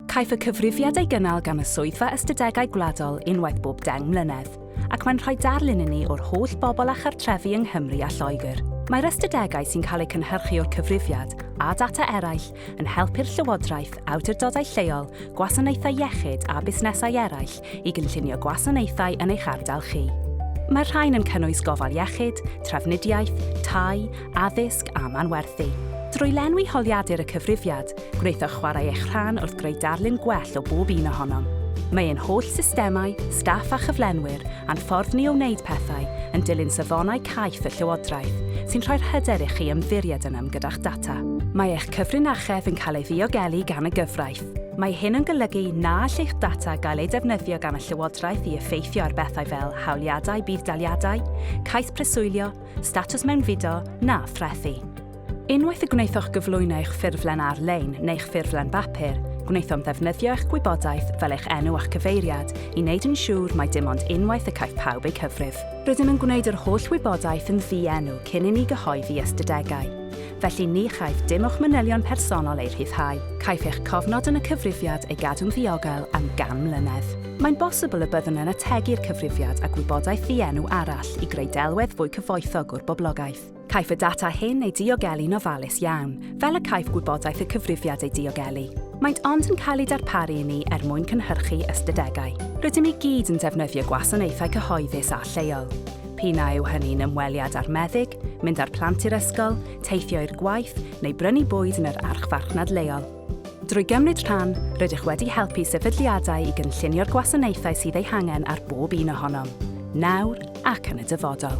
Caiff y cyfrifiad ei gynnal gan y Swyddfa Ystadegau Gwladol unwaith bob deng mlynedd, ac mae'n rhoi darlun i ni o'r holl bobl a chartrefi yng Nghymru a Lloegr. Mae'r ystadegau sy'n cael eu cynhyrchu o'r cyfrifiad a data eraill yn helpu'r Llywodraeth, awdurdodau lleol, gwasanaethau iechyd a busnesau eraill i gynllunio gwasanaethau yn eich ardal chi. Mae'r rhain yn cynnwys gofal iechyd, trafnidiaeth, tai, addysg a manwerthu. Drwy lenwi holiadur y cyfrifiad, gwnaethoch chwarae eich rhan wrth greu darlun gwell o bob un ohonom. Mae ein holl systemau, staff a chyflenwyr, a'n ffordd ni o wneud pethau yn dilyn safonau caiff y Llywodraeth, sy'n rhoi'r hyder i chi ymddiried ynom gyda'ch data. Mae eich cyfrinachedd yn cael ei ddiogelu gan y gyfraith. Mae hyn yn golygu na all eich data gael eu defnyddio gan y Llywodraeth i effeithio ar bethau fel hawliadau budd-daliadau, cais preswylio, statws mewnfudo na threthi. Unwaith y gwnaethoch gyflwyno eich ffurflen ar-lein neu'ch ffurflen bapur, gwnaethom ddefnyddio eich gwybodaeth, fel eich enw a'ch cyfeiriad, i wneud yn siŵr mai dim ond unwaith y caiff pawb eu cyfrif. Rydym yn gwneud yr holl wybodaeth yn ddi-enw cyn i ni gyhoeddi ystadegau. felly ni chaiff dim o'ch manylion personol eu rhyddhau. Caiff eich cofnod yn y cyfrifiad ei gadw'n ddiogel am gan mlynedd. Mae'n bosibl y byddwn yn ategu'r cyfrifiad â gwybodaeth ddienw arall i greu delwedd fwy cyfoethog o'r boblogaeth. Caiff y data hyn ei diogelu'n ofalus iawn, fel y caiff gwybodaeth y cyfrifiad ei diogelu. Maent ond yn cael eu darparu i ni er mwyn cynhyrchu ystadegau. Rydym i gyd yn defnyddio gwasanaethau cyhoeddus a lleol. P'un a yw hynny'n ymweliad â'r meddyg, mynd â'r plant i'r ysgol, teithio i'r gwaith neu brynu bwyd yn yr archfarchnad leol. Drwy gymryd rhan, rydych wedi helpu sefydliadau i gynllunio'r gwasanaethau sydd eu hangen ar bob un ohonom, nawr ac yn y dyfodol.